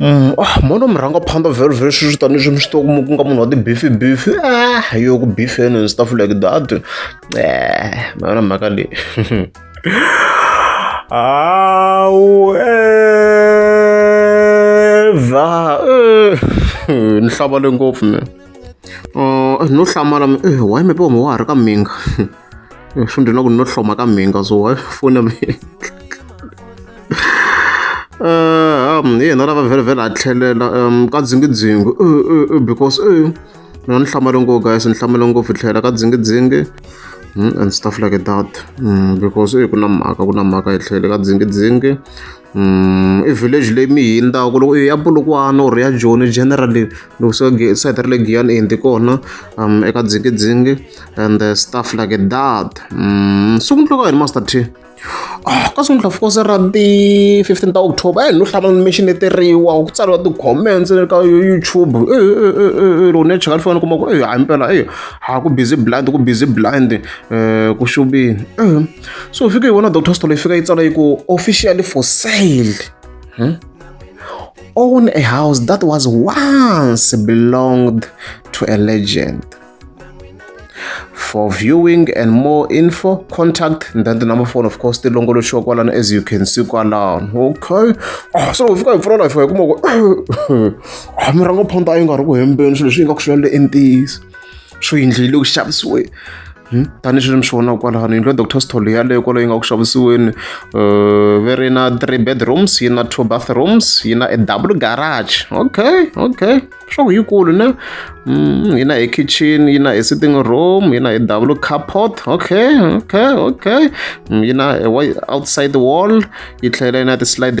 Mm, ah, mona murhangaphandza very very sweswi tanihi swi mi swi tiva ku nga munhu wa tibifi bifi ah yo ku bifeni and stuff like that eh ma yona mhaka leyi hawu eva eh, ni hlavale ngopfu mina uh, no hlamala eh, why maybe wami wa ha ri ka minga eh, swi ndzi na ku no hloma ka minga so why fona mi eh, um, hi yena lava vhelavhela a tlhelela um, ka dzingidzingi because mina ni hlamale ngopfu guys ni hlamale ngopfu tlhela ka dzingidzingi hmm, and stuff like that hmm, because ku na mhaka ku na mhaka hi tlhele ka dzingidzingi i village leyi mi yi hundzaka loko ya Polokwane or ya Joni generally loko se side ra le Giyani i hundze kona eka Dzingidzingi and stuff like that sungula ka yini Master T ka sungula of course ra ti fifteen ta October a hi no hlangana mi xineteriwa ku tsariwa ti-comments le ka YouTube loko ni ya cheka ni fanele ni kuma ku hayi mpela ha ku busy blind ku busy blind ku xuveni. so hi fike hi vona doctor stolo yi fika yi tsala yi ku officially for sale hmm? own a house that was once belonged to a legend for viewing and more info contact and then the number phone of course tilongoloxiwa kwalano as you can see kwalano okay oh, so fika hi pfula life hi kuma ku ah, mirhango phonta a yi nga ri ku hembeni swilo leswi yi nga ku swi lale entiyisi swo yindlu yi le ku xavisiweni tanihi sweswi mi swi vonaka kwalano yindlu ya doctor stol yaleyo kwalaho yi nga ku xavisiweni um ve ri na three bedrooms yi na two bathrooms yi na a double garage okay okay swa ku yikulu ne mm, yi na e kitchen yi na e sitting room yi na e double carport okay okay okay mm, yi na e outside wall yi tlhela yi na ti-slide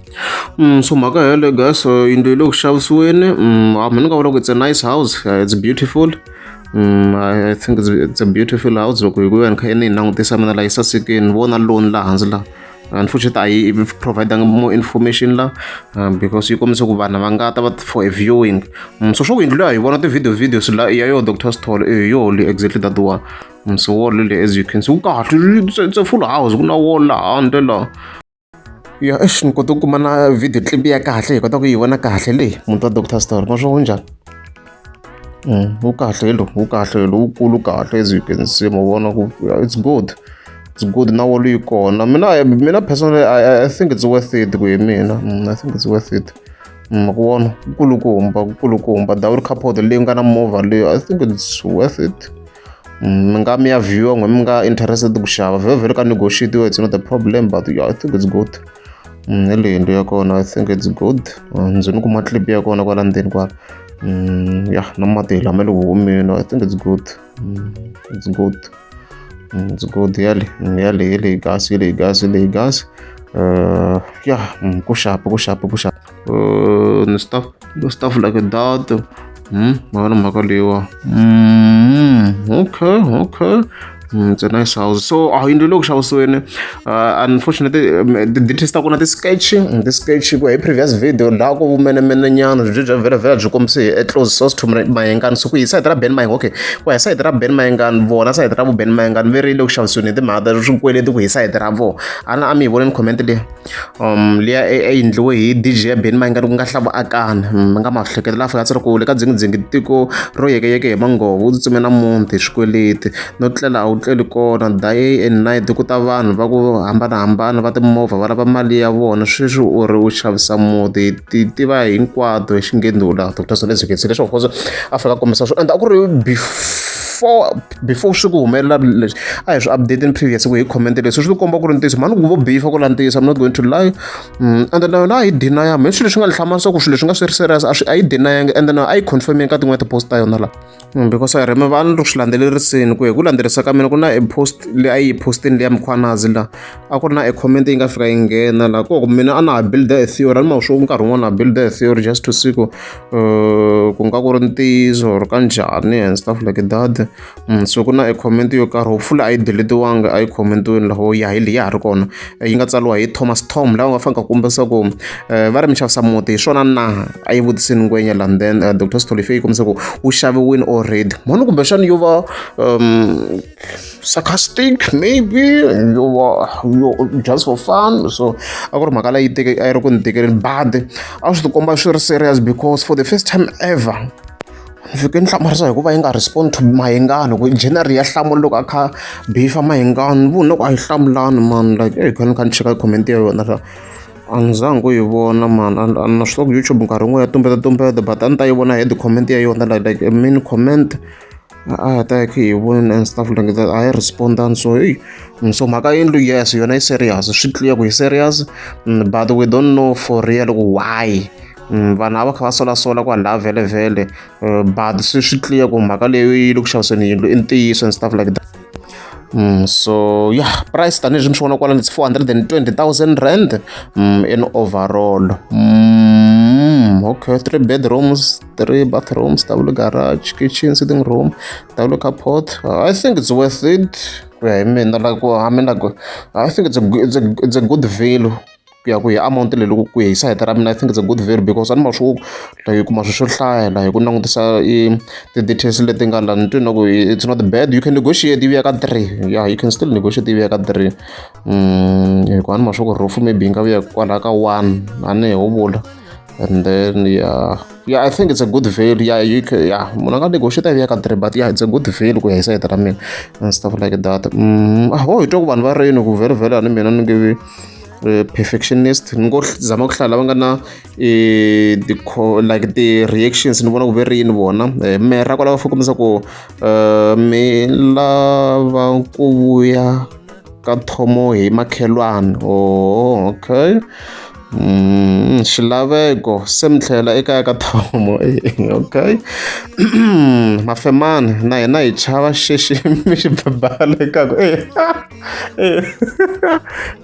Mm, so mhaka yeleyo guys uh, yindlu yi le ku xavisiweni mm, a mina nga vula ku it's a nice house uh, it's beautiful Mm, I, I think it's, it's a beautiful house loko hi ku yona kha yini yi langutisa mina laha yi sasekeni vona loan laha hansi laha unfortunately a yi providanga more information la um, because yi kombisa ku vanhu va nga ta va for a viewing um, so swo ku yindlu leyi a hi vona ti-video videos la ya yo doctor stol e yo le exactly that one um, so wall le as you can see ku kahle it's a full house ku na wall laha handle laha ya exi ni kote ku kuma na video clip ya kahle hi kota ku yi vona kahle leyi muti wa doctor story ma swi wu njhani mm, wu kahle lo wu kahle lo wukulu kahle as you can see ma vona ku it's good it's good na wolo yi kona mina mina personally I, I think it's worth it ku hi mina mm, I think it's worth it mm, ku vona kukulukumba kukulukumba dawuri capote leyi nga na movha leyi I think it's worth it mi nga mi ya viewer n'we mi nga interested ku xava vhele vhele ka negotiate yo it's not a problem but yeah, i think it's good mm, hi leyi yindlu ya kona i think it's good mm, ndzi ni kuma clip ya kona kwala ndzeni kwala mm, ya na mati hi lama le ku humeni i think it's good it's good it's good yale yale hi leyi gasi hi leyi gasi hi leyi gasi uh, ya ku xapa ku xapa ku xapa ni stuff stuff like that hmm mhaka mhaka leyiwa hmm okay okay Mm, it's a nice house so a yindlu leyi ku xavisiweni uh, unfortunately um, ti-details ta kona ti-sketch mm, ti-sketch ku hi previous video laha ku vumenemene nyana byi bya vhelavhela byi kombise hi close source to mayengani so ku hi sayiti ra ben mayeng okay ku hi sayiti ra ben mayengani vona sayiti ra vu ben mayengani ve ri le ku xavisiweni hi timhaka ta swikweleti ku hi sayiti ra vona a na a mi hi voneni comment leyi liya a yi endliwe hi D_J ya Benny Mayengani ku nga Hlavu Akani. Mi nga ma hlekelela a fika a ku le ka Dzingidzingi tiko ro yekeyeke hi manghovo, u tsutsumele namuntlha hi swikweleti. No tlela a wu tleli kona, day and night ku ta vanhu va ku hambanahambana va timovha va lava mali ya vona. Sweswi u ri u xavisa muti, hi ti tiva hinkwato hi xinghezi laha Doctor Zulu a hi byela swona leswaku a fika a kombisa swona ende a ku ri before. before swi ku humelela leswi a hi swi update ni previous ku hi comment leswi swi komba ku ri ntiyiso mhani ku vo bifa ku la ntiyiso i'm not going to lie mm, and then na a yi deniya mhe swilo leswi nga lihlama leswaku swilo leswi nga swi ri serious a swi a yi deniyangi and then a yi confirming ka tin'wana tipost ta yona la mm, because i remember a ni ri swi landzelerisini ku hi ku landzelerisa ka mina ku na e post leyi a yi yi postini leya mkhwanazi la a ku ri na e comment yi nga fika yi nghena la ku mina a na ha builda a theory a ni ma swo nkarhi wun'wana na builda a theory just to see ku ku nga ku ri ntiyiso or ka njhani and stuff like that mm, so ku na e comment yo karhi hopefully a yi deletiwanga a yi commentiweni laho ya hi leyi ya ha ri kona eh, yi nga tsariwa hi thomas tom laha u nga fanele ka kumba leswaku um eh, va ri mi xavisa muti hi swona na a yi vutisini ngwenya lani then uh, eh, dr stolifey yi kombisa ku wu xaviwini already mhani kumbexana yo va um sarcastic maybe you were, you just for fun so a ku ri mhaka leyi teke a yi ri ku ni tekeleni badi a swi tikomba swi ri serious because for the first time ever ni fike ni hlamarisa hikuva yi nga respond to mahingani ku general ya hlamula loko a kha bifa mahingani vu loko a yi hlamulani man like eyi kha ni kha ni cheka comment ya yona swa a ni zangi ku yi vona man a na swi tiva ku youtube nkarhi wun'we ya tumbeta tumbeta but a ni ta yi vona head comment ya yona like like main comment a ta hi hi voni and stuff like that a yi respondani so hey so mhaka yindlu yes yona yi serious swi clear ku yi serious mm, but we don't know for real ku why mm, vanhu a va kha va solasola ku vanhu lava vhelevhele eh, but swi swi clear ku mhaka leyo yi le ku xaviseni yindlu i ntiyiso and stuff like that Mm, so yeah price tanihileswi mi swi vona kwalani it's 420 000 rand mm, in overall mm, okay three bedrooms three bathrooms ta vula garage kitchen sitting room ta vula carport uh, i think it's worth it ku ya hi mina like i mean like i think it's a, it's a, it's a good value ku ya ku hi amount leyi loko ku ya hi sayiti ra mina i think it's a good value because a ni ma swi like hi kuma swi swo hlaya la hi ku langutisa i ti-details leti nga la ni twi na ku it's not bad you can negotiate ivi ya ka three yeah you can still negotiate ivi ya ka three mm, hi ku a ni ma swi ku roof maybe yi nga vuya kwalaha ka one a ni ho vula and then yeah yeah i think it's a good value yeah you can yeah munhu a nga negotiate a ka three but yeah it's a good value ku ya hi sayita ra mina and stuff like that mm, ah, oh hi twa ku vanhu va reyini ku vhele vhele ani mina ni nge eh, perfectionist ni ngo zama ku hlaya lava nga na eh, the like the reactions ni vona ku ve ri yini vona eh, mera kwalava fukumisa ku mi lava ku vuya ka thomo hi makhelwani oh okay Mm, xilaveko se mi tlhela ekaya ka thomo okay mafemani na hina hi chava xexi mi xi bebala ekaku e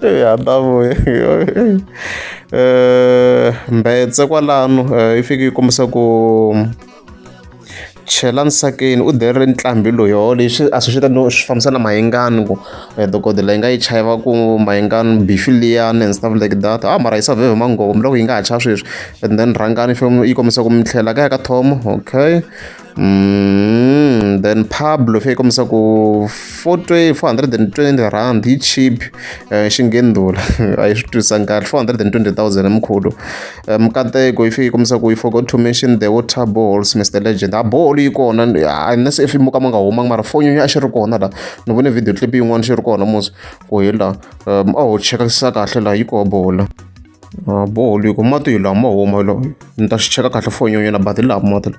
e hatavuye um mbetse kwalano um yi fike yi kombisa ku Chela nsakeni u dere ntlambhi loyo leswi a swi ta no swi fambisa na mayengani ku dokodela yi nga yi chava ku mayengani bifi liyani and stuff like that ha mara yi save hi manghoma ni loko yi nga ha chava sweswi and then rhangani yi kombisa ku mi tlhela kaya ka Tom okay then Pablo se yi kombisa ku four four hundred and twenty rand yi cheap xingheni ndhula a yi swi twisisanga kahle four hundred and twenty thousand hi mkhulu. Eh, mikateko if yi kombisa ku you forgot to mention the water balls mr legend a ah, bolo yi kona unless if mo ka ma nga humanga mara foni a xi ri kona la ni vone video clip yin'wana xi ri kona mos ku hi la um a ho chekakisisa kahle la yi koho bola ah, bolo yi ku mati hi laha ma huma lo ni ta xi cheka kahle foni yonyana bati laha mati la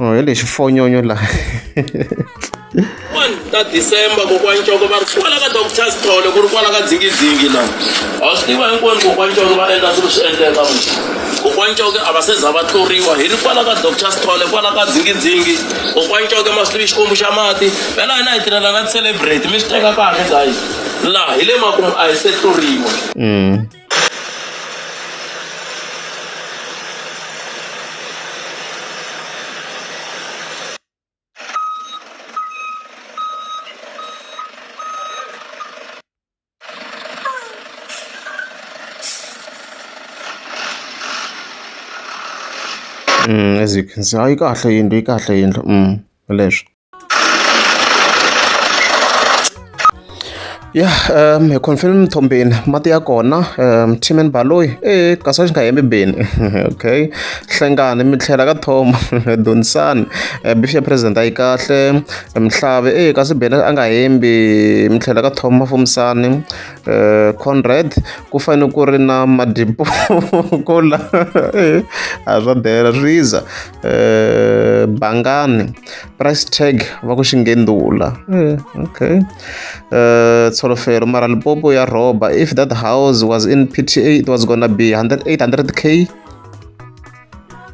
Oh, hi lexi fonyonyo laha ta december kokwani coko va ri kwala ka doctor sithole ku ri kwala ka dzingizingi laha a swi tiva hinkwenu kokwani coko va endla swilo swi endleka kokwani coke a va se za va tluriwa hi ri kwala ka doctor sithole kwala ka dzingizingi kokwani coke ma swi tivi xikwembu xa mati vela hina hi tirhela na ti-celebrate mi swi teka kahle guys laha hi le makumu a hi se tluriwa mm. as you can see a yi kahle yindlu yi kahle yindlu hi leswi. ya um hi confirm mthombeni mati ya kona um team and baloyi e kasi a xi nga hembi beni okay hlengani mi tlhela ka thoma donisani um bifi ya president a yi kahle mihlave e kasi beni a nga hembi mi tlhela ka thoma mafumisani um conrad ku fanele ku ri na madipo kola e a swa dela swiza eh, bangani price tag va ku xingendula eh, okay eh, tsholofelo mara lipopo ya rhoba if that house was in pta it was gonna be 800 k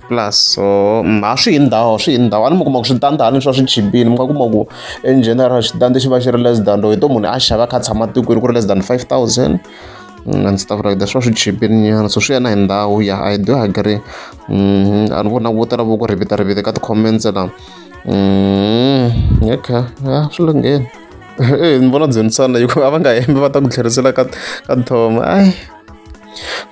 plus so mm, a swi hi ndhawu swi hi ndhawu a ni mi kuma ku switandi a ni swa swi chipile mi nga kuma ku in general xitandi xi va xi ri less than loyi to munhu a xava kha tshama tikweni ku ri less than five thousand and stuff like that swa swi chipinyana so swi ya na hi ndhawu ya i do agree mm, a ni vona vo tala vo ku rivita rivita ka ti-comments la okay mm, a swi lungheni e ni vona dzhenisana hikuva a va nga hembi va ta ku tlherisela ka ka thoma ai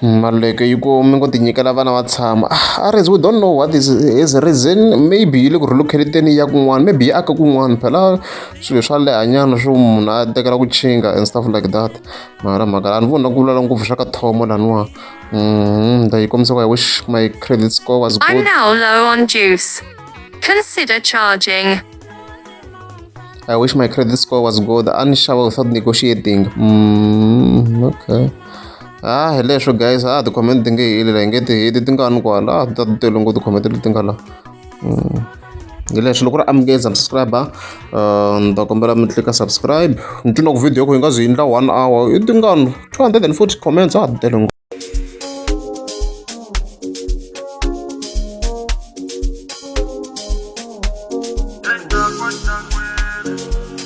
mm, maluleke yi ku mi ngo tinyikela vana va tshama ah, ares we don't know what is his reason maybe yi le ku relocateteni ya kun'wana maybe yi aka kun'wana phela swilo swa lehanyana swo munhu a tekela ku chinga and stuff like that mara mhaka a ni voni na ku lala ngopfu swa ka thomo laniwa mm-hmm. ndayi kombisa ku i wish my credit score was good I'm now low on juice consider charging I wish my credit score was good a ni xava without negotiating mm, okay ah hi leswo guys ah ti-comment ti nge heli la hi nge ti heli ti nga ni kwala ah ti ta ti tele ngopfu ti-comment leti nga la mm. hi leswi loko ri amukeli subscriber uh, ni ta kombela mi tlika subscribe ni twi loko video ku hi nga zi yindla one hour i tingano 240 comments a ha tele